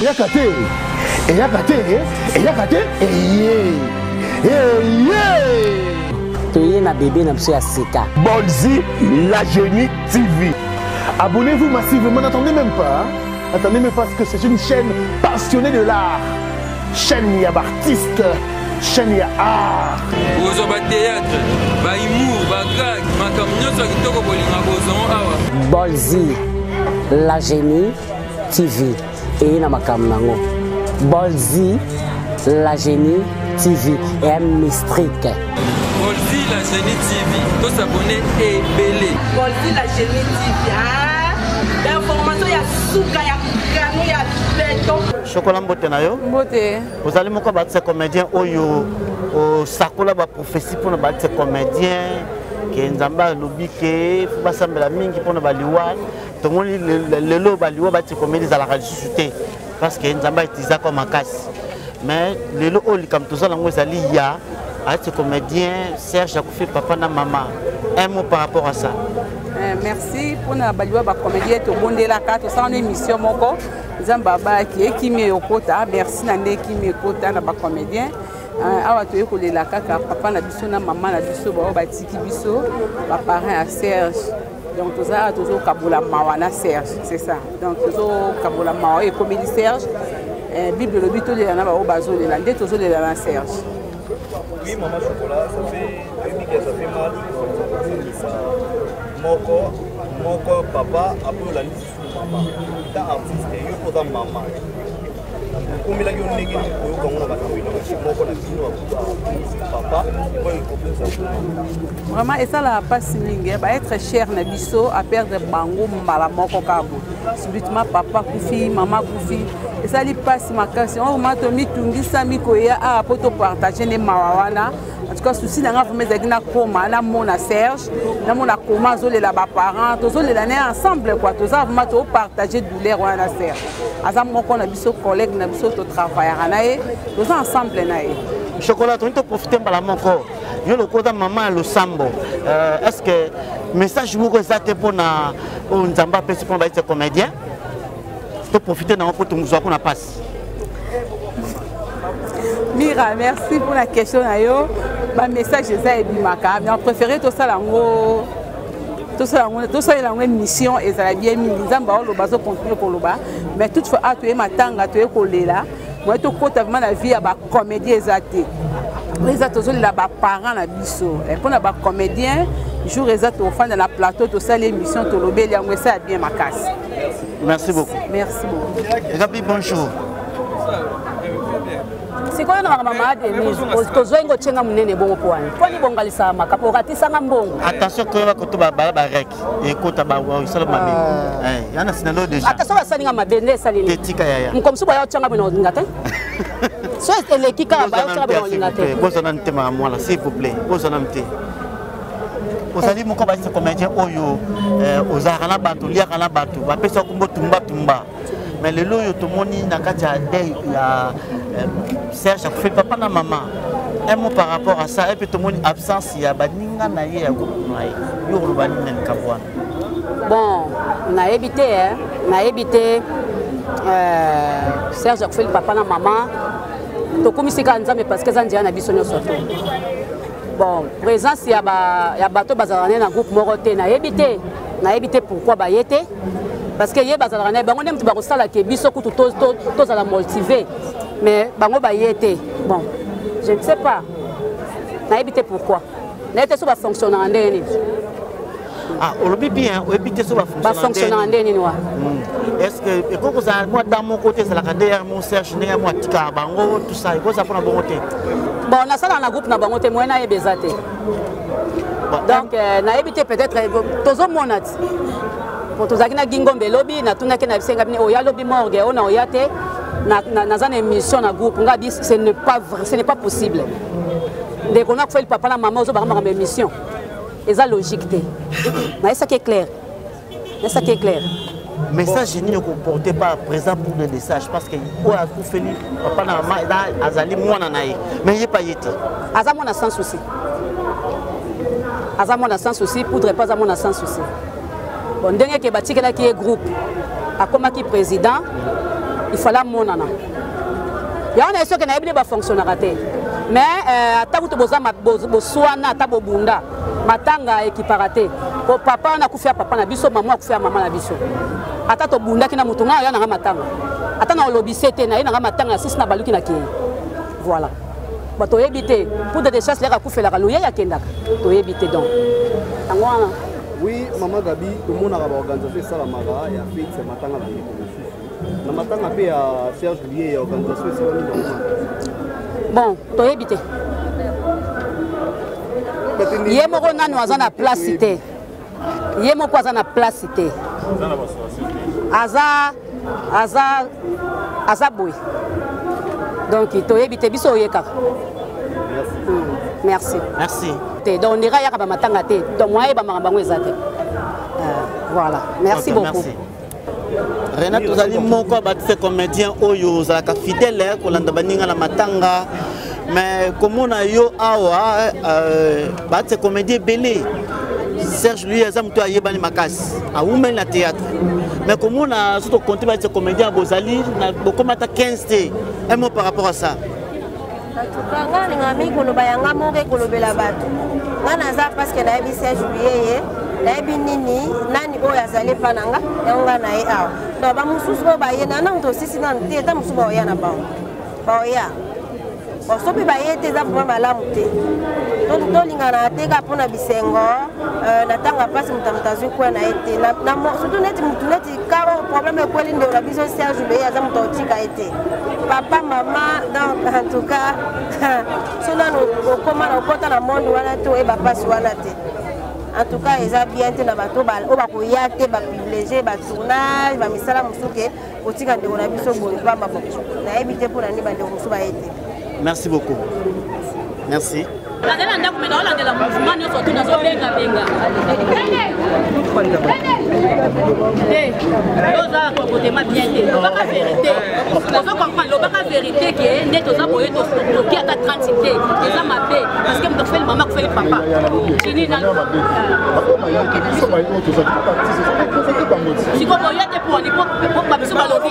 eyaka te eyaka te eyaka te eye eye toye na bebe na biso ya sika bolzi la genie tv abonnez-vous massivement n'attendez même pas n'attendez même pas parce que c'est une chaîne passionnée de l'art chaîne ya baartiste chaîne ya art kozwa batéâtre bahumour bagag makambo nyonso ya kitoko bolinga bozongo awa bolzi la genie TV eye na makambo nango Bolzi la génie TV et un mystrique Bolzi la génie TV to s'abonner et belé Bolzi la génie TV ah d'information ya suka ya kano ya beton Chocolat mbote na yo mbote ozali moko ba tse comédien oyo osakola ba prophétie pona ba tse comédien ke nzambe alobi ke fo basambela mingi mpona baliwa tomoni lelo baliwa batikomeli ezalaka lisusu te parce que nzambe aitizaka makasi mais lelo oyo likambo toza nango ezali ya ati comédien serge akufi papa na mama un mot par rapport à ça eh, merci mpona baliwa bacomédien tobondelaka tosala na émission moko nzambe abayaki ekimi eyokota merci na nde ekimi ekota na bacomédien eh, awa toyei kolela kaka papa na biso na mama na biso baoyo batiki biso baparent ya serge donc toza awa tozokabola mawa na serge c'est ça donc tozokabola mawa oyo ekomeli serge eh, bible elobi tolela na baoyo bazolela nde tozolela na serge Oui, maman chocolat, ça fait depuis que ça fait mal. Moko, moko, papa, après la liste. ta artiste yo mpe oza mama okomelaki yo ndenge nini koyoka ngo na makambo elongi moko na bino papa oyo ekokosa vraiment esalaka mpasi mingi eh. baetre cher na biso aperdre bango mbala moko kabo subitement papa akufi mama akufi esali mpasi makasi yango vraimen tomitungisami koya awa ah, mpo topartage nde mawa wana en tout cas souci na nga vraiment ezalaki nakoma namona serge namona koma azolela baparent tozolela naye ensemble kua toza vraiment topartage douleur wana na serge aza moko na biso collègue na biso totravaillaka na ye toza ensemble na ye chocolat tolingi toprofite mbala moko yo lokola oza mama ya losambo euh, est ce que message moko eza te mpona oyo nzambe apesi mpona bayete comédien toprofite nango mpo tozwa kuna mpasi mira merci pour la question na yo bamessage eza ebimaka mais en préféré tosala yango tosalela yango émission ezala bien mingi nzambe aoloba azocontinue koloba mais toute fois a toye matanga toye kolela moye tokota vraimen na vie ya bacomédie eza te eza tozolela baparent na biso eh, mpo na bacomédien jour eza tofanda na plateau tosali émission tolobeli yango esa ya bien makasi merci beaucoup merci beaucoup ekapi bonjour sikoyo na makambo mama denise tozwai ngo tyenga monene bongo mpo wana mpo nibongalisaka makambo okatisanga mbongo attention koyeba koto babala barek ekota baisala mabe ah. eh, yana sinalo deja attention basali nga mabe nde esali nini etika yaya mokomisi boya otyanga bino olinga te so eleki kaka bayotyanga bino olinga te bozana ntema ya mwana s'il vous plaît bozana mte ozali moko balise comédien oyo eh, ozalaka na bato oliaka na bato bapesi yo kombo tumbatumba me lelo oyo tomoni na kati ya dei ya eh, serge akufi papa na mama un mot par rapport à ça epe tomoni absence ya baninga na ye ya groupe na ye yo oloba nini na likambo wana bon nayebi te nayebi te eh, serge akufeli papa na mama tokumisi kaka nzambe parce que eza nzela na biso nyonso to bon présence ya ba ya bato bazalaka naye na groupe moko te nayebi te nayebi te pourquoi baye te parce que ye bazalaka naye bango nde moto bakosala ke biso kutu tozala motive mais bango baye te bon je ne sais pas nayebi te pourquoi nayebi te so bafonctionnaka ndenge nini Ah, olobi bien oyebi te so bafonctionnaka nde nini wa hmm. est ce que ekoki kozala mwa da moko te ezalaka nde ya mo serge ndenge ya mwa atikaka bango tusa ekozala mpona bongo te bon nasalaka na groupe na bango te moye nayeba eza te donc euh, nayebi te peut-être euh, tozomona ti po tozalaki na gingombe lobi natunaki na bisenga bine oya lobi morgue ona oya te naza na émission na groupe nga bi ce n'est pas vrai ce n'est pas possible ndeko nakufeli papa na mama ozobaka makambo émission eza logique te nayesaki eclaire nayesaki eclaire message nini okoporte par présent pour le message parce que oyo akufeli papa na mama azali mwana na ye me ye pa ye te aza mwana sans souci aza mwana sans souci poudre mpe aza mwana sans souci bon ndenge ke batikelaki ye groupe akomaki président il fallait amonana yango na esoki nayebi nde bafonctionnaka te mais euh, ata kutu boza boswana ata bobunda matanga ekipaka te po papa wana akufi ya papa na biso mama akufi ya mama na biso ata tobundaki na moto ngai oya nanga matanga ata na olobi se te naye nanga matanga ya sisi na baluki na kei voilà bato oyebi te poudre de chasse leka kufelaka loyei akendaka toyebi te donc yango wana oui mama gabi tomonaka baorganisation esalamaka ya feti ya matanga na ndeko mosusu na matanga mpe ya serge liye ya organisation esalami normal bon toyebi te ye moko nanu aza na place te ye moko aza na place te aza aza aza boye donc toyebi te biso oye kaka merci hmm, merci te donc ndeka yaka bamatanga te donc moyen yeba makambo yango eza te euh, voilà merci beaucoup renate ozali moko ya batise comédien oyo ozalaka fidèle eh, kolanda baninga na matanga mais komona yo awa euh, batise comédie ebele serge lui aza moto ayebani makasi awumeli na théâtre mais komona so tokonte batise comédien bozali bokoma ata 15 te un mot par rapport à ça atuka nga nalinga mingi koloba yanga moko ekolobela bato nga naza parceke nayebi serge biyeye nayebi nini nani oyo azali epa na nga yango nga na ye awa donc bamosusu oyo baye na nano tosisi nano te ata mosusu baoya na bango baoya baso mpe baye te eza vraimen malamu te tolingana te kaka mpo na bisengo euh, na ntango ya mpasi moto moto azwi kwe na ye te surtout neti motu neti kaba problème ekweli ndeko na biso serge leye aza moto akotika ye te papa mama donc en tout cas so nanu okoma na okota na monde wana te oyeba mpasi wana te en tout cas eza bien te na bato oyo bakoya te baprivilégie batournage bamisala mosusu ke kotika ndeko na biso boye pamba nayebi te mpo na nini bandeko mosusu baye te merci beaucoup merci nazali na ndako me naolandela mouvement nyonso tu nazobengabenga te oza kokotema bien te lobaka verité ozo comprendre lobaka verité ke nde toza boye toki ata 30 te eza mabe parce que moto akufeli mama akufeli papa tini na sikoyo boye te poni po babiso balobi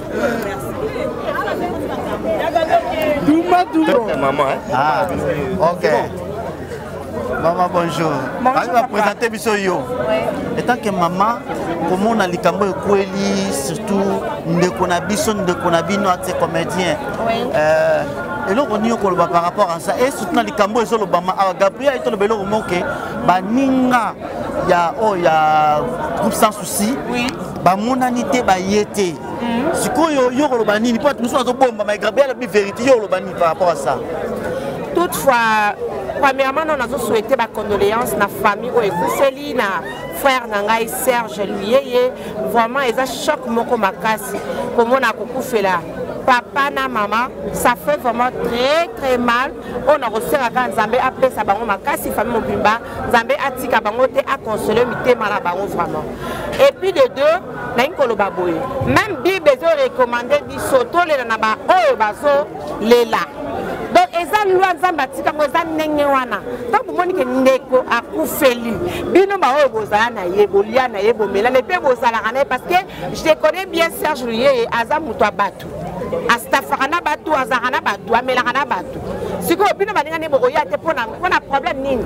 Dumba Dumba. Maman. Hein? Ah, ok. Maman, bonjour. Allez, va présenter biso yo. Étant que maman, comment on a likambo ekweli, surtout ndeko na biso, ndeko na bino ate comédien. Oui. Euh, eloko nini okoloba par rapport à ça et surtout na likambo ezolobama awa gabriel ayitoloba eloko moke baninga ya oyo oh, ya groupe sans si oui. bamonani te baye te mm. sikoyo yo koloba nini mpo mosusu azobomba maigrabe alobi vérité yo oloba nini par rapport à ça toutefois premièrement nano nazosouhaite bacondoléance na famille oyo ekufeli na frère na ngai serge luyeye vraiment eza choc moko makasi komona kokufela papa na mama ça fait vraiment très très mal oyo nakosengaka nzambe apesa bango makasi famille mobimba nzambe atika bango te aconsole mitema na bango vraiment et puis de deux nalingi koloba boye même bible ezorecommande biso tolela na baoyo bazolela donc eza lwa nzambe atika yango eza ndenge wana ntango bomoni ke ndeko akufeli bino baoyo bozala na ye bolia na ye bomelana mpe bozalaka na ye parce que je connais bien serge luyeye aza moto ya bato asitafaka na bato azalaka na bato amelaka na bato sikoyo bino baninga nde bokoya te mpona mpona problème nini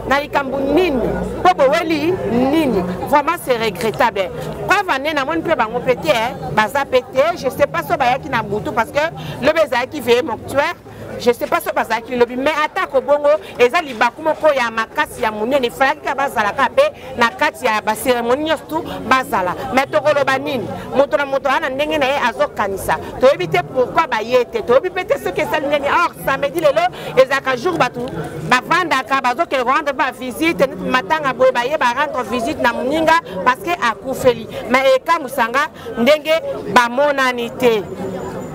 na likambo nini mpo boweli nini vraiment c'est regrettable preuve ane namoni mpe bango mpe te baza mpe te je sais pas so bayaki na butu parce que lobi ezalaki veye mortuaire je sais pas so bazalaki lobi mais atako bongo eza libaku moko ya makasi ya monene efalaki kaka bazala kaka mpe na kati ya baseremoni nyonso tu bazala mais tokoloba nini moto na moto aa na ndenge na ye azokanisa toyebi te pourkui baye te toyebi mpe te soki esali ndeni or samedi lelo ezalaka jour bato bavandaka bazokende korendre ba visite neti matanga boye baye barendre visite na moninga parce que akufeli mais ekamwisanga ndenge bamonani te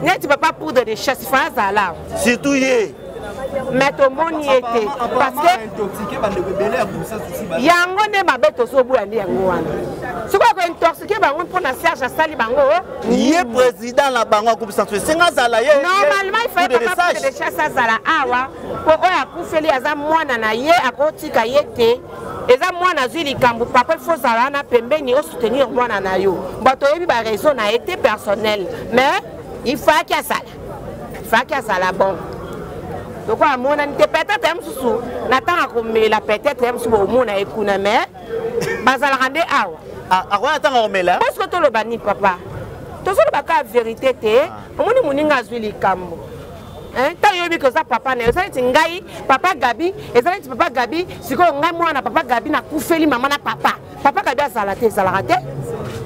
neti papa poudre de chasse fa azala surtout ye me tomoni ye te parceke yango nde mabe tozoboya nde yango wana soki akointoxike bango mpo na serge asali bango ye président na bango akobisa so esenga azala ye normalement ifaepapadechasse azala awa mpo oyo akufeli aza mwana na ye akotika ye te eza mwana azwi likambo papa il faut ozala wana pembeni osoutenir mwana na yo bato oyebi baraison na ye te personnel mais il faki asala faki asala bon loko amonani te peut-être ya mosusu na ntango akomela peut-être ya mosusu bokomona ye kuna mais bazalaka nde awa ah, akoya ntango akomela parceke toloba nini papa tozoloba kaka verité te ah. omoni moninga azwi likambo ntango eh, yoyebi ke oza papa na yo eza neti ngai papa gabi eza neti papa gabi sikoyo ngai mwana papa gabi nakufeli mama na papa papa gabi azala te ezalaka te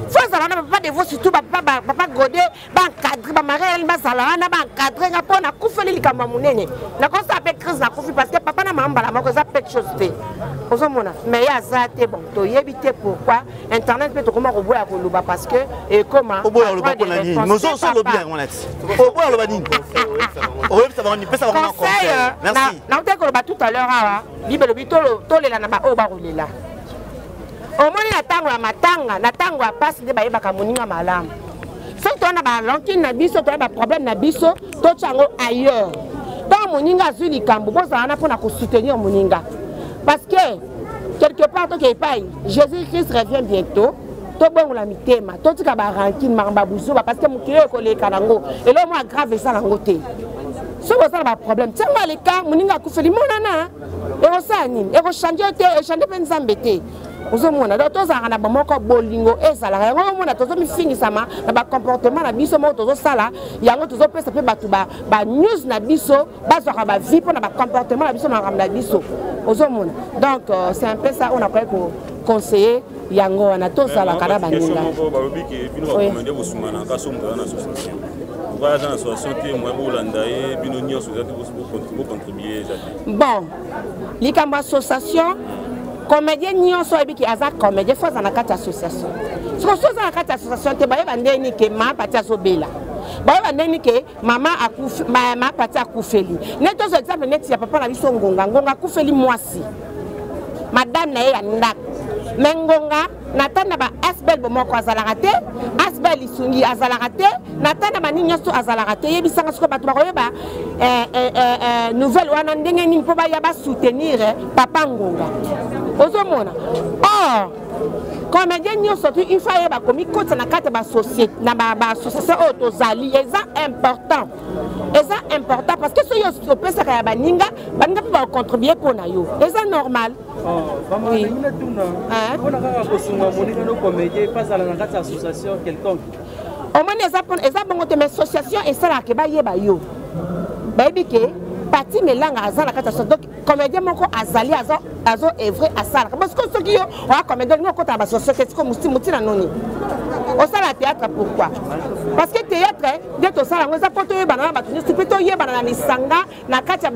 fo azala wana papa devo surtout papa gode baencadre bamari yalani bazala wana baencadre nga mpo nakufeli likambo ya monene nakosala mpe crise nakufi parce que papa na mama mbala moko eza pete chose te ozomona mais ye aza te bon toyebi te pourquoi internet mpe tokoma koboya koloba parce que ekoma oboya koloba mpo na nini mozoso olobi yango na ti oboya koloba nini oyebisa bango nini pesa bango na conseil euh, merci nautaki koloba tout à l'heure awa bible elobi tolela na baoyo bakolela omoni na ntango ya matanga na ntango ya mpasi nde bayebaka moninga malamu soki toza na balankine na biso toza baproblème na biso totya yango ailleurs ntango moninga azwi likambo bozala wana mpo na kosoutenir moninga parce que quelque part toke epai jésus christ revient bientôt tobongola mitema totika barankine makambo ya buzoba parce que mokili oyo ekoleka nango eloko mwa grave eza nango te soki oza na baproblème ntango aleka moninga akufeli monana ekosala nini ekochange yo te echange mpe nzambe te ozomona donc tozalaka na bamoko bolingo ezalaka yango omona tozomifingisama na bacomportement na biso moko tozosala yango tozopesa mpe bato banews na biso bazwaka bavie mpo na bacomportement na biso na makambo na biso ozomona donc euh, c'est un peu ça oyo nakoki koconseille yango wana tozalaka na baninga bon likambo association comédien nyonso oyebi ke aza comédien fo aza na kati ya association soki oza na kati ya association te bayeba ndenge nike ma pati azobela bayeba ndenge nike mama akufi mama pati akufeli neti tozwa exemple neti ya papa na biso ngonga ngonga akufeli mwasi madame na ye ya ndako me ngonga nata na baasbel bomoko azalaka te asbel lisungi azalaka te nata na banini nyonso azalaka te yebisanga soko bato bakoyeba eh, eh, eh, nouvelle wana ndenge nini mpo baya basoutenir papa ngonga ozomona or comédien nyonso tu ifa ye bakomikotisa na kati na baassociation oyo tozali eza important eza important parce que soki opesaka ya baninga baninga mpe bacontribue mpo na yo eza normal omoni eza bongo te mais association esalaka ke bayeba yo bayebi ke pati melanga aza na kati ya comédien moko azali azo azo evre asalaka parce que soki yo oya comédien olingi okota na basosoke siko motina noni osala théâtre pourquoi parce que théâtre nde tosala yango eza mpo toyebana na bato nyonso mpe toyebana na lisanga na kati ya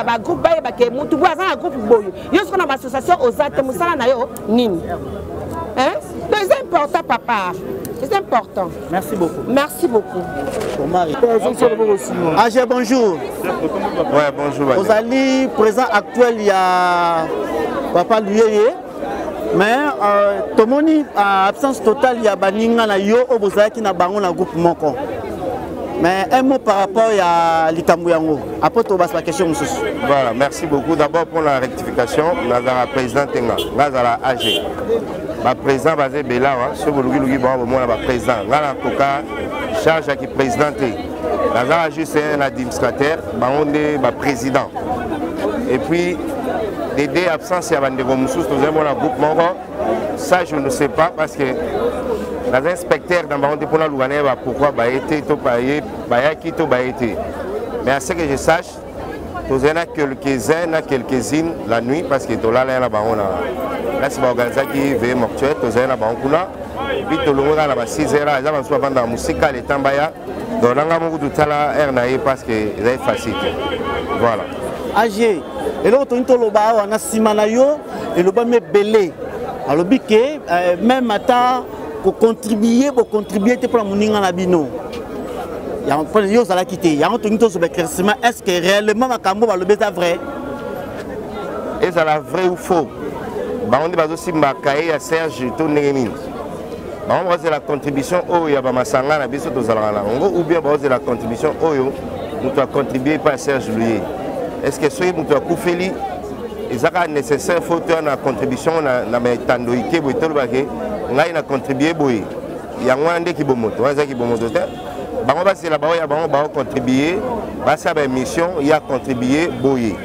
bagroupe bayeba ke motu boye aza na groupe boye yo soko na baassociation oza te mosala na yo nini donc eza important papa eza important Merci beaucoup. Merci beaucoup. AG, ah, bonjour. Ouais, bonjour. Vous allez présent actuel, il y a Papa Luyeye. mais euh, tomoni euh, absence totale ya baninga na yo oyo bozalaki na bango na groupe moko mais un mot par rapport ya likambo yango apres tobasa baquestion mosusu voilà merci beaucoup d'abord mpo na rectification nazala président tenga nga azala age bapresident baza ebele awa soki bolukiluki bango bomona bapresident ngai nakoka charge ya kipresident te nazala juste un administrateur bango nde baprésident et puis dede absence ya bandeko mosusu tozali mona groupe moko ça je ne sais pas parce que naza inspecteur na bango te mpo naluka naye bapourkoi baye te to baye bayaki to baye te mais à ce que je sache tozali na quelques-uns na quelques-unes la nuit parce que tolalaya na bango na place baorganisaki veye mortuaire tozali na bango kuna epuis tolongwe kaka na ba 6 heures eza basusu bavanda na mosika leta mbaya donc na ngai moko totala heure na ye parce que ezali facile te voilà age eloko tolingi toloba awa na nsima na yo elobami ebele alobi ke euh, meme ata kocontribue bocontribue te mpona moninga na bino yo ozalaki te yango tolingi tozoba éclaircissement est ce que réellement makambo balobi eza vrai ezala vrai ou faux bango nde bazosimba kaye ya serge to ndenge nini bango bazela contribution oyo ya bamasanga na biso tozalaka na yango ou bien bazela contribution oyo moto acontribue epai ya serge luye est ce que soki moto akufeli ezaka nécessaire fo toya na contribution na etando ike boye tolobake ngai na contribue boye yango wana nde kibomoto wana eza kibomoto te bango basela bango ya bango baocontribue basala baémission ya contribue boye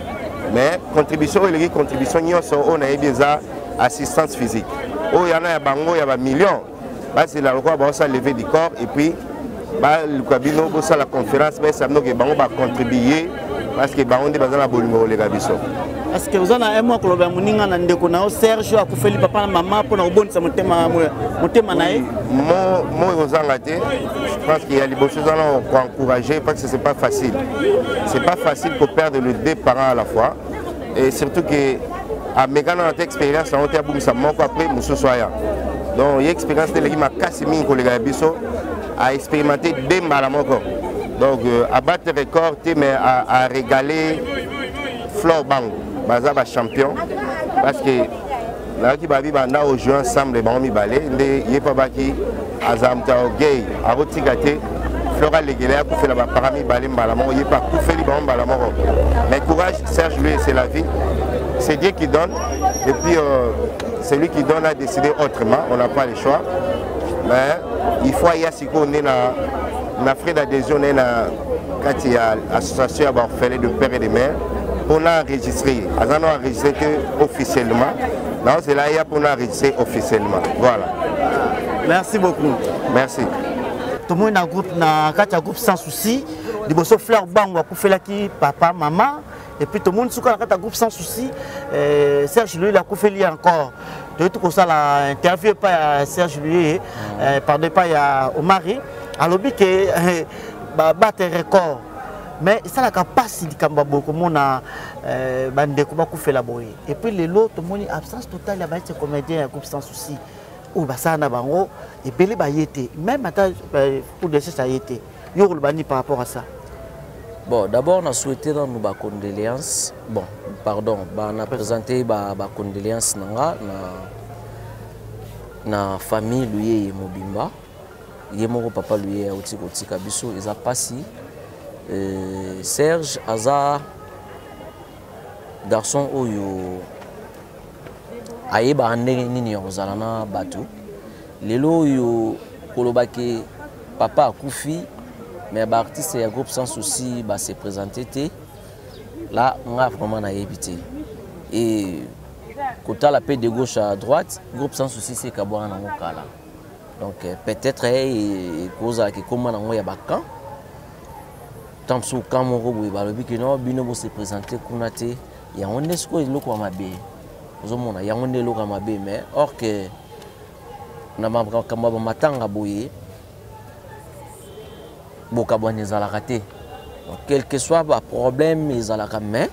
mais contribution oyo eleki contribution nyonso oyo nayebi eza assistance physique oyo yana ya bango ya bamillion bazela lokola baosala leve du corps et puis baluka bino bosala conférence bayesa bino ke bango bacontribue parce que bango nde baza na bolingo koleka biso parce que oza na emo akoloba ya moninga na ndeko na yo serge akufeli papa na mama mpo na kobondisa motema motema na ye moi kozanga te je pense qu'il y a liboso eza na koencourager parce que c'est pas facile c'est pas facile koperdre le deux parents à la fois et surtout que ameka nano ata expérience yango te abungisa moko après mosusu aya donc ye expérience te eleki makasi mingi koleka ya biso aexpérimente de mbala moko donc euh, abattre record te mais aregale flore bango baza bachampion parce que nayaki babi banda ojoue ensemble bango mibale nde ye mpe abaki aza moto ya orgueil akotika te flora legele akufela bapara mibale mbala moko ye mpe akufeli bango mbala moko mais courage serge lui c'est la vie c'est dieu qui donne et puis euh, celui qui donne a décidé autrement on n'a pas le choix mais il faut aya sikoyo nde na na frais d'adhésion naye na kati ya association ya baorphelin de père et de mère mpona enregistre ye aza na enregistre te officiellement nazela ya mpona rise officiellement voilà merci beaucoup merci tomoni na groupe na kati ya groupe sans souci liboso fleur bango akufelaki papa mama epuis tomoni suka na kati ya groupe sans souci eh, serge loyeli akufeli encore toyeti kosala interview epai ya serge loyeli eh, pardon epai ya omari alobi ke eh, babate record mais esalaka mpasi likambo ya boye komona eh, bandeko bakufela boye et puis lelo tomoni absence totale ya baete comédien ya groupe sans souci oyo basala na bango ebele baye te même ata euh, pour desese aye te yo okoloba nini par rapport à ça bon d'abord na souhaite nanu bacondoléance bon pardon na présente bacondoléance na nga na, na famille luyeye mobimba ye moko papa luyeye auti kotika biso eza mpasi euh, serge aza garçon oyo ayebaka ndenge nini ya kozala na bato lelo oyo koloba ke papa akufi mais baartiste ya groupe sans souci base présente te la nga vraiment nayebi te e kotala mpe de gauche à droite groupe sans souci se ekabwana nango kala donc euh, peut-être ekozalaka eh, ekoma nango ya bacan ntango mosusu ka moko boye balobi ke no bino bose présente kuna te yango nde sikoyo eloko ya mabe ozomona yango nde eloko ya mabe mais or ke na makambo ya bamatanga boye bokabwani ezalaka te quelque soit baproblème ezalaka mais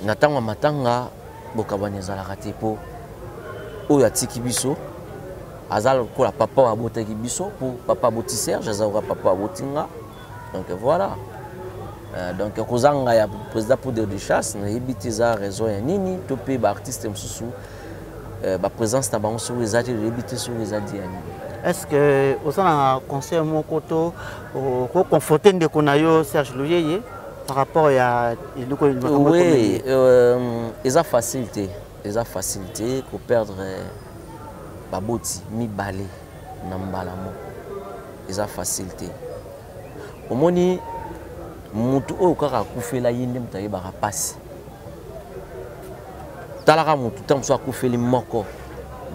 na ntango ya matanga bokabwani ezalaka te mpo oyo atiki biso aza lokola papa oyo abotaki biso mpo papa aboti serge aza lokola papa aboti nga donc voilà euh, donc kozanga ya président poudre de chasse nayebi te eza raison ya nini to mpe baartiste mosusu euh, baprésence na bango soki eza te toyebi te soki eza di ya nini est-ce que oza na conseil moko to okoconforte ndeko na yo serge luyeye par rapport ya eloko oui euh, eza facile te eza facile te koperdre euh, baboti mibale na mbala moko eza facile te omoni motu oyo kaka akufela ye nde moto ayebaka mpasi talaka motu ntango mosusu akufeli moko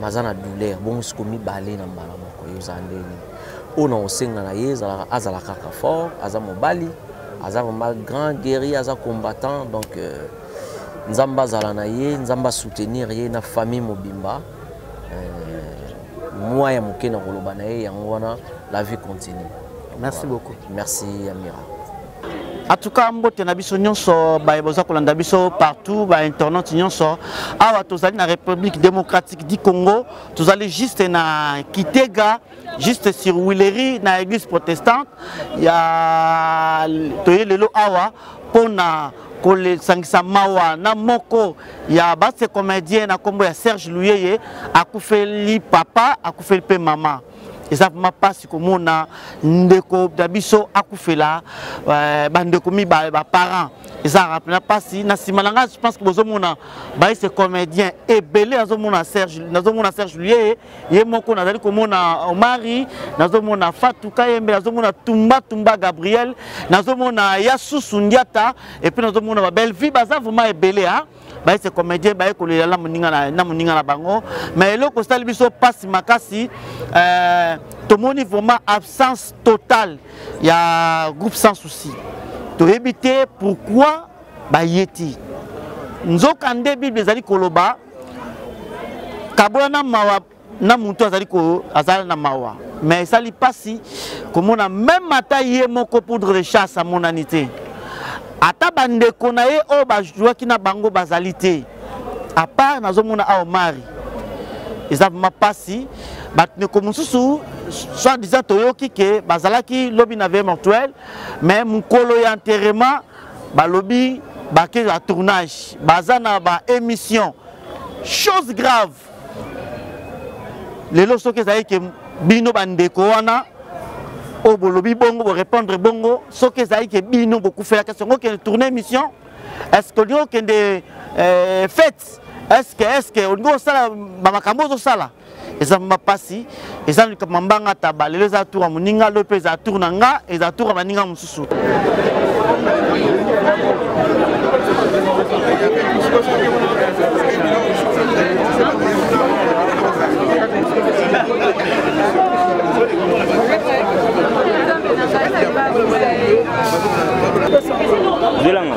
maza na douleur bongo siko mibale na mbala moko yo oza nde nini oyo na kosenga na ye azala kaka fort aza mobali aza vraiment grand guerrier aza combattant donc euh, nzambe azala na ye nzambe asoutenir ye na famille mobimba euh, mwa ya moke na koloba na ye yango wana la vie continue merci voilà. beaucoup merci amira En tout cas, mbote na biso nyonso baye boza kolanda biso partout ba internet nyonso awa tozali na République démocratique du Congo, tozali juste na Kitega, juste sur Willery na église protestante ya toye lelo awa pona kolesangisa mawa na moko ya base comédien na kombo ya Serge Luyeye akufeli papa akufeli pe mama eza vraiment mpasi komona ndeko na biso akufela euh, bandeko mibale baparent ezalaka mpena mpasi na nsima na ngai je pense que bozomona baise comédien ebele nazomona serge nazomona serge luye ye moko nazali komona omari nazomona fatu kayembe nazomona tumba tumba gabriel nazomona yasusu ndiata epuis nazomona babellevie baza vraiment ebele a baye se comédien baye kolela na moninga na, na moninga na bango mais eloko osali biso mpasi makasi euh, tomoni vraiment absence totale ya groupe sans souci toyebi te pourquoi baye te nzoka nde bible ezali koloba kabola na mawa na mutu azali ko azala na mawa mais esali pasi komona meme ata ye moko poudre de chasse amonani te ata bandeko na ye oyo bajwaki na bango bazali te apart nazomona awa mari eza vraimen mpasi bandeko mosusu soit disant toyoki ke bazalaki lobi na vie mortuel mais mokolo ya enterrement balobi bake ya tournage baza na baémission chose grave lelo soki ezali ke bino bandeko wana oyo bolobi bongo borépondre bongo soki ezali ke bino bokufelaka est ce que okende tourne émission est ce que olingi okende euh, fête est ce que est ce que olingi osala bamakambo ozosala eza mapasi eza likambo mambanga taba lelo eza tour ya moninga lelo mpe eza tour na nga eza tour ya baninga mosusu Zelanga.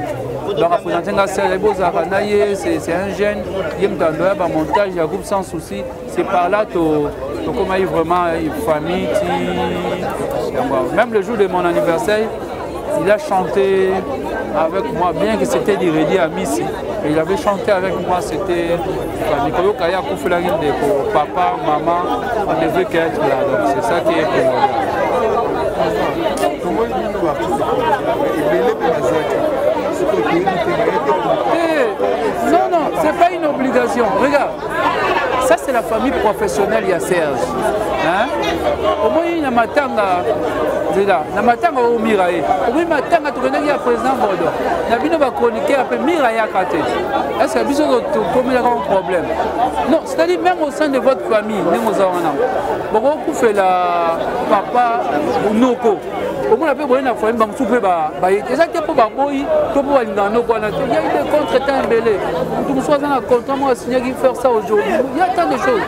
donc apresente nga sele bozalaka na ye c'est un jeune ye moto andoya bamontage ya groupe sans souci c'est par là tokomaki vraiment famille ti yango même le jour de mon anniversaire il a chanté avec moi bien que c'était du redi à misi il avait chanté avec moi c'était ndeko yoka ye akufelaki ndeko papa mama on ne veut qu'être là donc c'est ça qui est primordial tomoni bino baartiste ebele mpe bazaki sikoyo toyebi te baye te eh, non non c'est pas une obligation regarde ça c'est la famille professionnelle ya serge omoni na matanga nzela na matanga oyo mira ye omoni matanga tokendaki ya président bodo na bino bachroniqueur mpe mira yaka te Est-ce que biso tokomelaka un problème Non, c'est-à-dire même au sein de votre famille, ndenge oza wana bokokufela papa noko omona mpe boye na famille bamosusu mpe baye te eza te mpo baboyi to mpo balingaka noko wana te ya ide contre temps ebele moto mosusu aza na contrat moko asignaki faire ça aujourd'hui ya tant de choses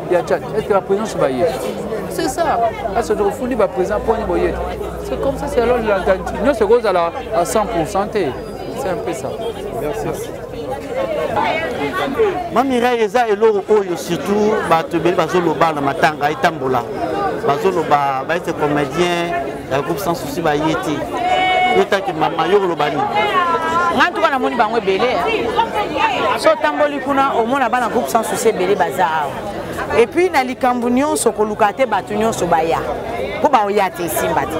ya chat est ce que baprésent so baye c'est ça ase tokofundi baprésent mponi boye c'est comme ça c'est alors lantani nyonso ekozala à 100 pourcent te c'est un peu ça merci, merci. mamirai eza eloko oyo surtout bato ebele bazoloba na matanga etambola bazoloba baete comédien ya groupe sans souci baye te yo taki mama yo koloba nini ngai ntuka namoni bango ebele so otamboli kuna omona bana groupe sans souci ebele baza awa epuis na likambo nyonso koluka te bato nyonso baya mpo baoya te esimba te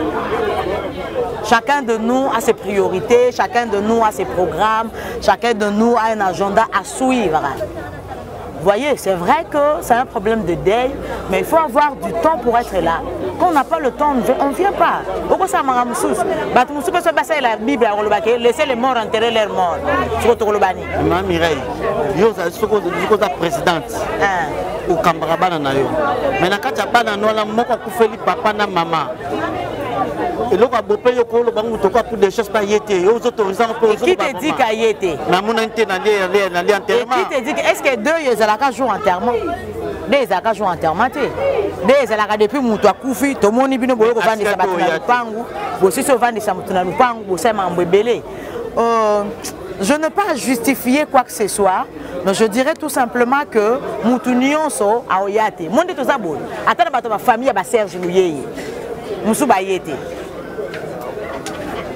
Chacun de nous a ses priorités, chacun de nous a ses programmes, chacun de nous a un agenda à suivre. Voyez, c'est vrai que c'est un problème de deuil, mais il faut avoir du temps pour être là. Quand on n'a pas le temps, on ne vient pas. Pourquoi ça m'a moussous Bah, tu moussous, parce que c'est la Bible, on va laisser les morts enterrer leurs morts. Tu vois, tu vois, Ma Mireille, yo, ça, c'est ce que tu as présidente. Hein. okambaka bana na yo me na kati ya bana na wana moko akufeli papa na mama eloko abope yo koloba nguto kwa pour des choses pas ye te yo ozotourisa ngo mpo qui te dit ka ye te namonani te nalie enterrement qui te dit est ce que deux yo ezalaka jour enterrement nde ezalaka jour enterrement te nde ezalaka depuis moto akufi tomoni bino boye kovandisa bato na lupangu bosisi ovandisa moto na lupangu bosala mambo ebele euh, je ne pas justifier quoi que ce soit donc je dirais tout simplement que mutu nyonso aoya te mo nde toza boye ata na bato ya bafamille ya baserge luyeye mosusu baye te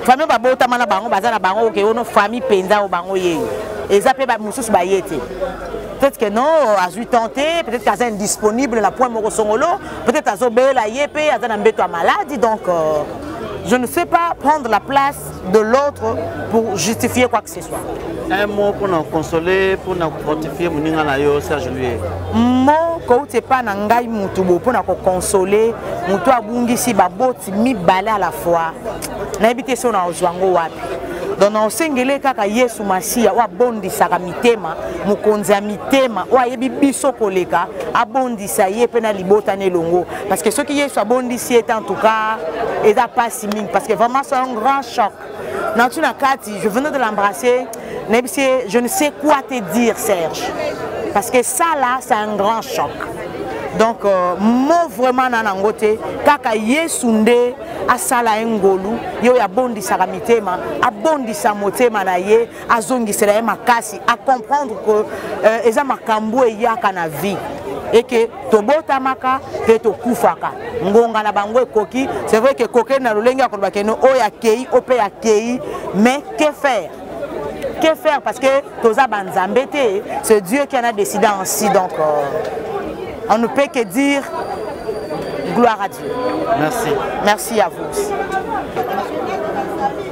famille babotama na bango baza na bango oke ono famille mpenza o bango yeye eza mpe mosusu baye te peut-être que non azwi temps te peut-être que aza indisponible na point moko songolo peut-être azobela ye mpe aza na mbeto ya maladi donc euh, je ne sais pas prendre la place de l'autre pour justifier quoi que ce soit. Un mot pour nous consoler, pour nous fortifier, pour nous dire Serge Louis. Mot kouti epai na ngai motu bo mpo na kokonsole motu abungisi baboti mibale à la fois nayebi te so na ozwa yango wapi donc na osengele kaka yesu masiya oyo abondisaka mitema mokonzi ya mitema oyo ayebi biso koleka abondisa ye mpe na libota na elongo parce que soki yesu abondisi ye te en tout cas eza mpasi mingi parce que vraiment c'est un grand choc natu na kati je venais de l'embrasser nayebisi ye je ne sais quoi te dire serge parce que ça là c'est un grand choc donc euh, mo vraiment na nango te kaka yesu nde asala ye ngolu ye oyo abondisaka mitema abondisa motema na ye azongisela ye makasi a comprendre que euh, eza makambo eyaka na vie eke tobotamaka mpe tokufaka ngonga na bango ekoki c'est vrai ke kokeli na lolenge ya koloba keno oyo akei o mpe akei mais que faire que faire parce que toza banzambe te c'est dieu qui en a décidé ainsi donc euh, on ne peut que dire gloire à dieu merci merci à vous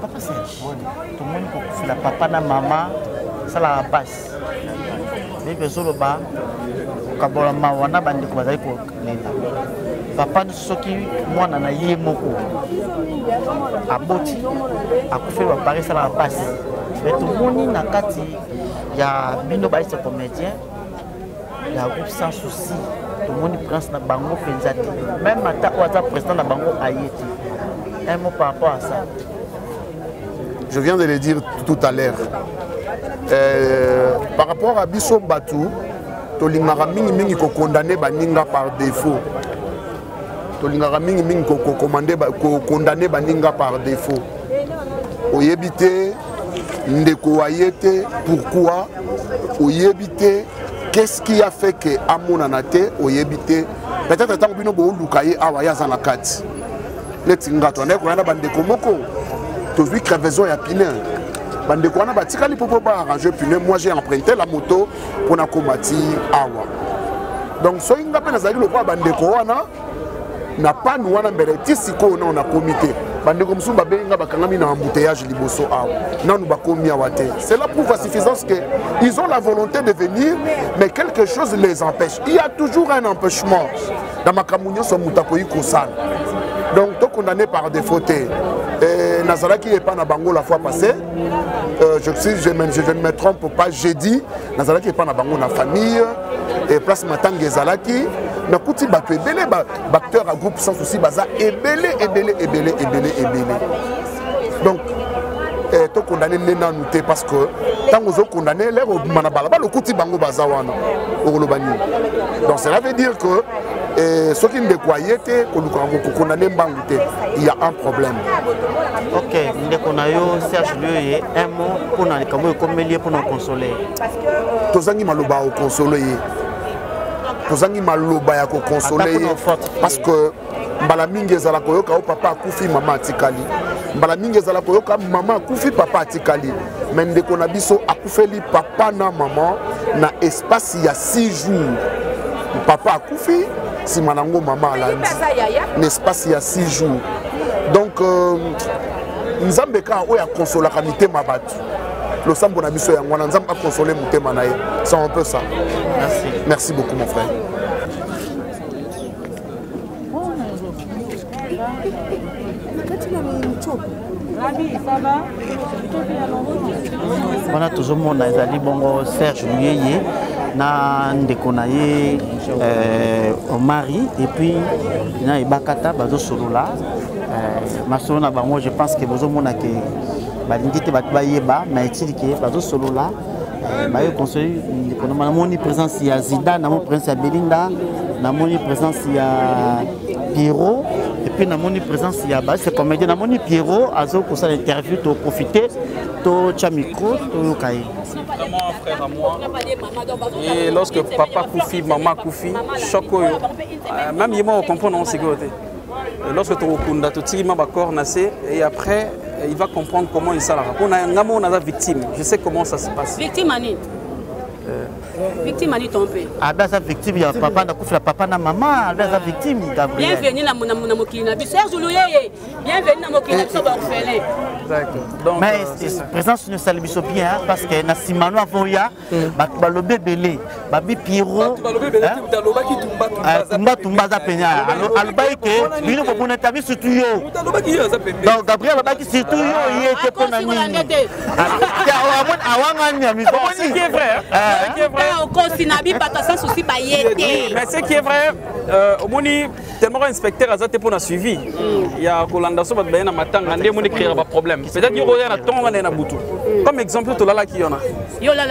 Papa Serge, tomoni kokufela papa na mama esalaka mpasi ndenge ezoloba kokabola mawa na bandeko bazali kolela papa nyonso soki mwana na ye moko aboti akufeli bapare esalaka mpasi me tomoni na kati ya bino baise comédien la groupe sans souci tomoni prince na bango mpenza te meme ata oyo aza président na bango aye te un mot par rapport à ça je viens de le dire tout à l'heure euh, par rapport à biso bato tolingaka mingimingi kokondane baninga par défaut tolingaka mingi mingi kokomande kokondane baninga par défaut oyebi te ndeko wa ye te pourquoi oyebi te qu'est-ce qui a fait que amonana te oyebi te peut-être ntango bino booluka ye awa ye aza na kati neti nga toandaki koya na bandeko moko tozwi crevaison ya pine bandeko wana batikali mpo mpo baarrange pine moi j'ai emprunté la moto mpo nakoma ti awa donc soki nga mpe nazalaki lokola bandeko wana na panu wana mbele ti sikoyo nao nakomi te bandeko mosusu babengi nga bakangami na embouteillage liboso awa nanu bakomi awa te cela prouve à suffisance que ils ont la volonté de venir mais quelque chose les empêche il y a toujours un empêchement na makambo nyonso moto akoki kosala donc tokondamne par défaut te nazalaki epai na bango la fois passée Euh, je, suis, je, je, je ne me trompe pas jeudi nazalaki epai na bango na famille et place matanga ezalaki nakuti bato ebele baacteur ya groupe sans souci baza ebele ebele ebele ebele ebele donc eh, tokondane nde nanu te parce que ntango ozokondane lere obima na balabala okuti bango baza wana okoloba nini donc cela veut dire que eh, soki ndeko aye te kolukaka kokondane mbangu te il y a un problème ok ndeko na yo serge lioye un mot mpo na likambo oyo ekomeli ye mpo na konsole ye tozangi maloba ya kokonsole ye tozangi maloba ya kokonsole ye parce que mbala mingi ezala koyoka o papa akufi mama atikali mbala mingi ezala koyoka mama akufi papa atikali me ndeko na biso akufeli papa na mama na espace ya 6 jours papa akufi nsima nango mama alandi na espace ya 6 jours donc euh, nzambe kaka oyo akonsolaka mitema bato losambo na biso yango wana nzambe akonsole motema na ye c'est un peu ça merci, merci beaucoup mon frère wana tozomona ezali bongo serge luyeye na ndeko na ye euh, omari epuis na ebakata bazosolola euh, masolo na bango je pense ke bozomona ke balingi te bato bayeba na etili ke bazosolola baye conseil ndeko na namoni présence ya zida namoni présence ya belinda namoni présence ya pierrot epuis namoni présence ya base comédien namoni pierrot azo kosala interview toprofite totya micro toyoka ye vraiment frère à moi et lorsque papa kufi mama kufi choc oyo euh, même ye moko comprendre yango sikoyo te lorsque tokokunda totiki ma bacor na se et après il va comprendre comment esalaka mpo na ngai moko naza victime je sais comment ça se passe victime ani euh, victime ani ton mpe abe aza victime ya papa nakufela papa na mama abe aza victime gabriel bienvenu na mokili na biso serge luyeye bienvenu na mokili na biso baorphelin mais euh, présence ne esali biso bien parce que na nsima no avoya bato balobi ebele babi piro tumba tumba aza pene alobaki ke bino bobuna te abi surtout yo donc gabriel alobaki surtout yo ye te mpo na nini awangani ya misokosi na bibata sans souci baye te omoni tellement ko inspecteur aza te pona suivi ya kolanda so bato baye na matanga nde moni créera ba problème peut-être yo koya na tongo na na butu comme exemple tolalaki yona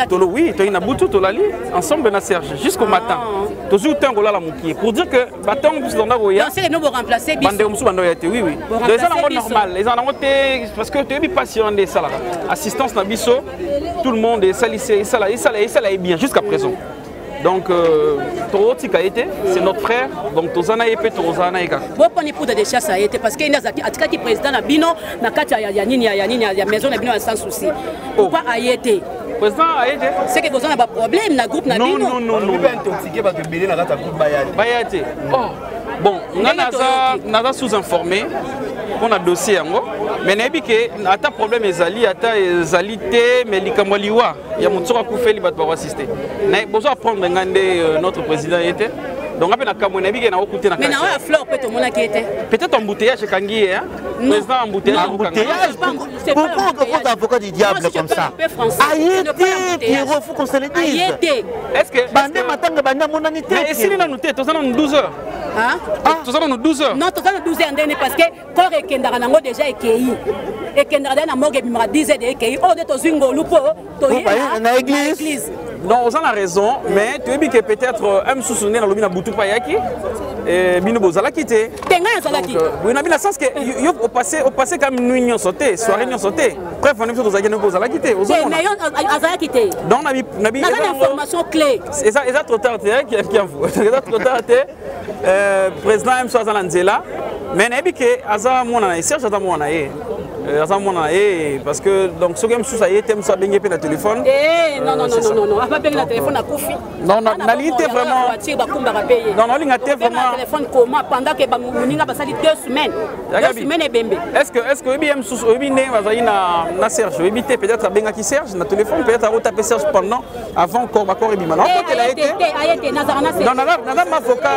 tolo oui toyi na butu tolali ensemble na Serge jusqu'au matin ah. tozwi temps kolala mokie pour dire que batongo biso tozanda koya bandeko mosusu banda oya te oui oui donc eza nango normal eza nango te parce que toyebi mpasi wana nde esalaka assistance na biso tout le monde esalisa esala esala esala ye bien jusqu'à présent donc euh, tokotika ye te c'est notre frère donc toza na ye mpe tokozala na ye kaka boponi poudre de chasse ya ye te parce que ye nde atikaki président na bino na kati ya nini ya nini ya maison na bino ya sans souci oh. pourquoi aye te président aye te c'est que boza na baproblème na groupe na bino baya te oh. bon nga naza sous informé mpo na dossier yango mais nayebi ke ata problème ezali ata ezali te mais likambo ya liwa ya moto soki akufeli bato bako assiste naye bozo apprendre ngai nde euh, notre président ye te donc ape na kamwe nayebi ke na okute na kasi ya fleur mpe tomonaki ye te peut-être embouteillage ekangi ye président embouteillage pourquoi okokota avocat du diable comme ça aye te pierrot faut qu'on se le dise aye te est ce que bande matanga bande amonani te esili nanu te toza nanu 12 heures toza nanu 12 heures non toza na 12 heures ndene parce que corps ekendaka nango deja ekei ekendaka deja na morgue ebimaka 10 heures de ekei oyo nde tozwi ngolu mpo toyei na église donc oza na raison mais toyebi ke peut-être euh, un mosusu nde nalobi na butu mpe ayaki eh, bino bozalaki te te ngai azalaki euh, boye na bino sens ke yo opasse opasse kam nui nyonso te soirée nyonso te bref wana biso tozalaki noko ozalaki te ozomona yo azalaki te donc na bi na bi information clé eza eza trop tard te hein, kiamvu eza trop tard te Euh, président mso aza na nzela mais nayebi ke aza mwana na ye serge aza mwana na ye euh, aza mwana na ye parce que donc soki mosusu aye te mosusu abengi mpe na téléphone eh, nalingi te vraiment nalinga te vraimentestceque oyebi ye mosusu oyebi ndenge bazali na serge oyebi te peut-être abengaki serge na téléphone peut-être akotape serge pendant avant corps ba corps ebima na kotela ye te non naza naza mavoka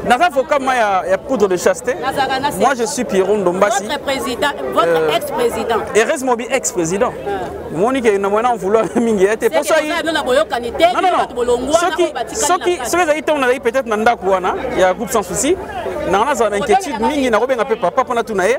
naza avoka ma ya, ya poudre de chaste moi je suis Pierrot Ndombasi votre président votre euh, ex président Erez Mobi ex président euh. moni ke na mwana vouloir mingi ye te poso yi non non non soki soki soki ezali ntango nazali peut-être na ndako wana ya groupe sans souci nanga nazala na inquiétude mingi nakobenga mpe papa mpo natuna ye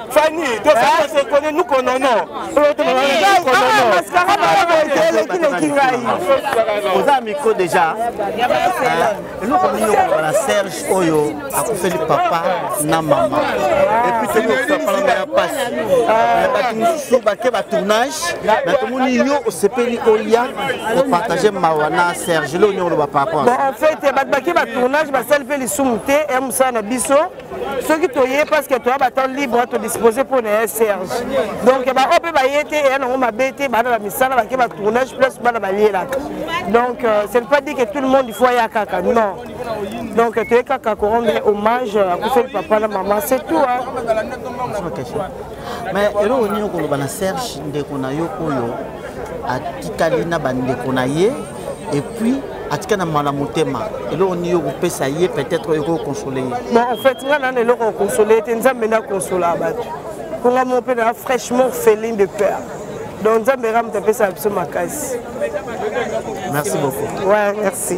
Fanny, tu as fait ce qu'on est, nous qu'on en a. oza micro déjà eloko nini okoloba na serge oyo akufeli papa na mama epuis tokosapananga ya mpasi bato mosusu bake batournage na tomoni yo osepeli olia opartage mawa na serge eloko nini okoloba par rapport en fait bato bake batournage basali mpe lisumu te ya mosala na biso soki toye parce que toya batemp libre todispose mpo na ya serge donc baoyo mpe baye te eya nango mabe te bana bamisala bake batournage place bana balielaka donc euh, ce ne pas dire que tout le monde il faut aya kaka non donc toye kaka korendre hommage akufeli papa na mama c'est tout mais eloko nini okoloba na serge ndeko na yo oyo atikali na bandeko na ye et puis atika na mala motema eloko nini yo kopesa ye peut-être oyo kokonsole ye bon en fait ngai nana eloko okonsole ye te nzambe nde akonsola bato mpo ngai moko mpe naa fraîchement felin de père donc nzambe ramuta apesaka biso makasi merci beaucoup ouais merci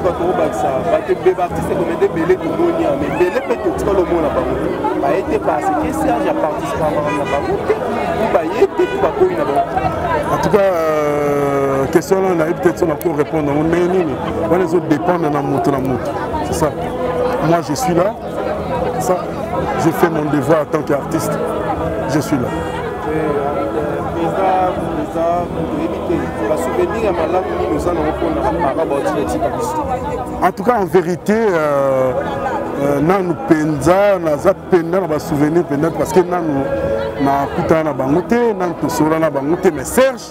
suka tokobakisa bato ebe baartiste komede ebele tomoni yango ebele mpe totika lomona bango baye te parce que serge aparticipa makambo na bango te baye te to bakoyi na bango en tout cas euh, question wana nayebi te ti na ko répondre yango ndenge nini wana ezodépendre na moto na moto C'est ça. Moi, je suis là. Ça, je fais mon devoir en tant qu'artiste. Je suis là. En tout cas, en vérité, euh, euh, nanu penza naza penda na basouvenir penda parce que nanu nakutana na bango te nanu tosola na bango te mais serge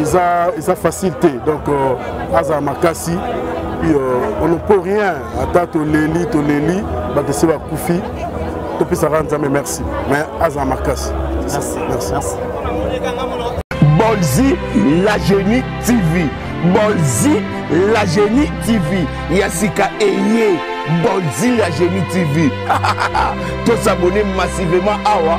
eza eza facile te donc euh, azala makasi puis euh, on ne peut rien ata toleli toleli bato esi bakufi topesaka nzambe merci mais azala makasi merci, merci. merci. bolzi la genie tv bolzi la genie tv ya sika eye bolzi la genie tv tosabone massivement awa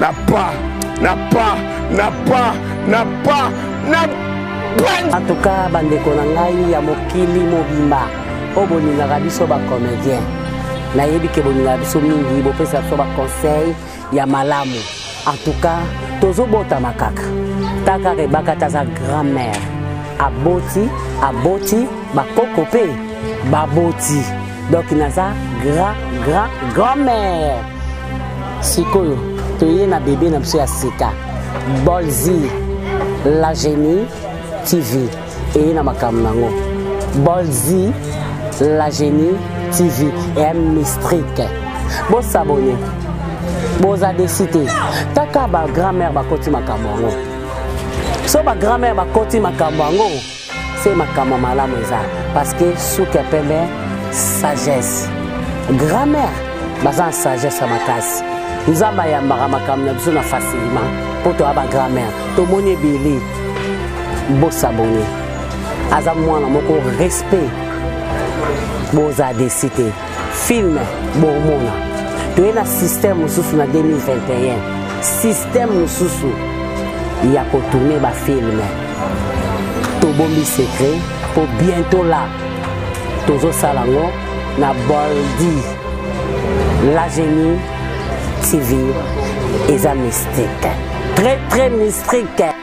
Na pas, na pas, na pas, na pas, na pas. En tout cas, bandeko na ngai ya mokili mobimba, oyo bolingaka biso ba comédien. Nayebi ke bolingaka biso mingi, bopesa biso ba conseil ya malamu. En tout cas, tozobotama kaka. Taka rebaka taza grand-mère. Aboti, aboti, bakoko pe baboti. donc naza grand grand grand mère sikoyo toye na bebe na biso ya sika bolzi la genie tv eye na makambo nango bolzi la genie tv eya mistrike bosabone boza desi te taka ba grand mère bakoti makambo yango so ba grand mère bakoti makambo yango se makambo ya malamu eza parce que suki ya pembe sagesse grammaire baza na sagesse ya makasi nzambe ayambaka makambo na biso na facilement mpo toya bagrammaire tomoni ebele bosabone aza mwana moko respect boza desi te film bomona toye na système mosusu na 2021 système mosusu ya kotourne bafilme tobombi secret mpo bientôt la tozosala yango na boldi la génie tv eza mystique très très mystique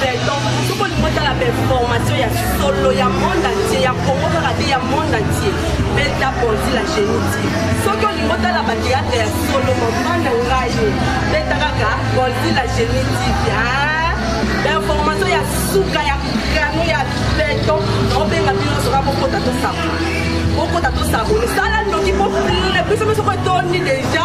Feuilleton, soki olingi otala bainformation ya solo ya monde entier ya congo kaka te ya monde entier beta ponzi la génitive soki olingi otala bateatre ya solo mama na ngai beta kaka ponzi la génitive bainformation ya suka ya kano ya beton naobenga bino soka bokota tosabone bokota tosabone sala ndoki po biso biso koetondi deja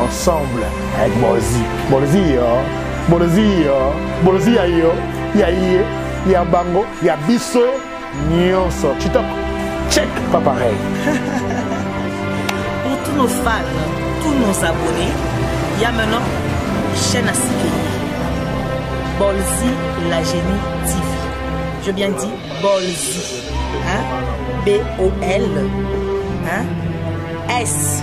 Ensemble avec Bolozi. Bolozi yo. Bolozi yo. Bolozi ya yo. Ya ye. Ya bango. Ya biso. Nyonso. Chitop. Check. Pas pareil. Pour tous nos fans, tous nos abonnés, il y a maintenant chaîne à Sikeye. Bolzi la génie TV. Je bien dit Bolzi. Hein? B-O-L. Hein? S.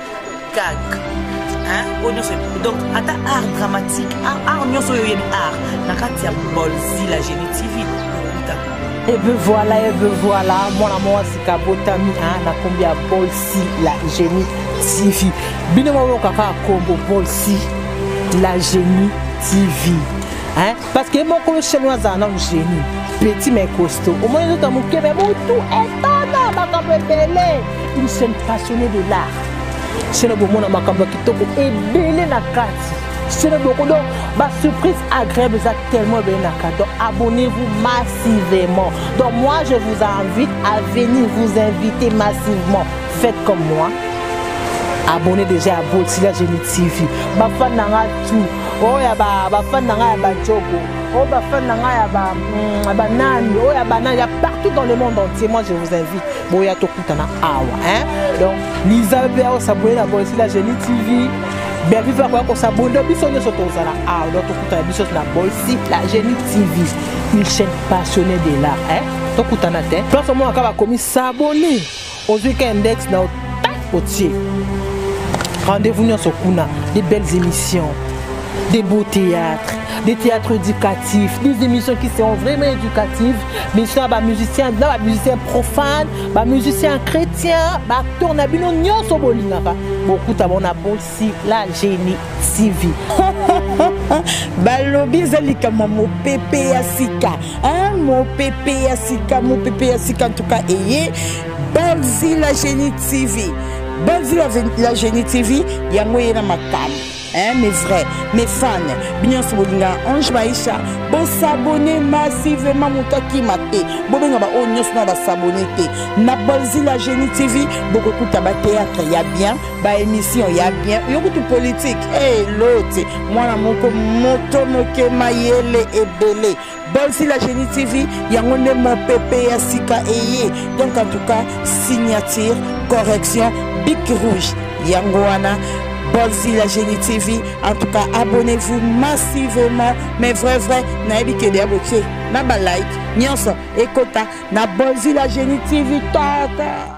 gag hein oyo nyonso donc ata art dramatique art nyonso oyo oyebi art na kati ya bolzi la génie tv okuta ebe voilà ebe voilà mwana mwasi kabotami na kombi ya bolsi la génie tv bino bayoka kaka kombo bolsi la génie tv hein? parce que mokolo shelo azala nanu génie petit mais costaud omoni nzoto ya moke me motu etana makambo ebele une seule passionnée de l'art shelo bomona makambo ya kitoko ebele na kati shelo boko donc basurprise agréable eza tellement ebele na kati donc abonnez-vous massivement donc moi je vous invite à venir vous inviter massivement faites comme moi abonnez déjà à bolsila génie tv bafan na nga oyo ya bafani na ngai ya bajoko oyo bafani na ngai ya mm, banani oyo ya banani ya partout dans le monde entier moi je vous invite boya tokutana awa hein donc liza mpe akosabone na boyesi la genie tv bervive akoya kosabone biso nyonso tozala awa donc tokutana biso na boyesi la genie tv une chaîne passionnée de l'art hein tokutana te place omonaka bakomi sabone ozwi ka index na otie rendez-vous nyonso kuna des belles émissions des beaux théâtres des théâtres éducatifs des émissions qui seront vraiment éducatives mission ya bamusicien na bamusicien profane bamusicien chrétien baacteur na bino nyonso bolingaka bokuta bona bosi merci la genie tv balobi eza likambo mopepe ya sika mopepe ya sika mopepe ya sika ntuka eye balzi la genie tv balzi la genie tv yango eye na makambo hein, mes vrais, mes fans, bien sobolinga, Ange Maïcha, bon s'abonner massivement mutaki mate, bobenga ba onyos na ba s'abonner te, na bolzi la génie TV, beaucoup kuta ba théâtre ya bien, ba emission ya bien yo kutu politique elote eh, hey, mwana moko moto moke mayele ebele bolsi la génie tv yango nde mopepe ya sika eye donc en tout cas signature correction bic rouge yango wana Bolzi la Génie TV. En tout cas, abonnez-vous massivement. Mais vrai, vrai, naebi que des abonnés. Na ba like, nionso, ekota, na Bolzi la Génie TV. Tata.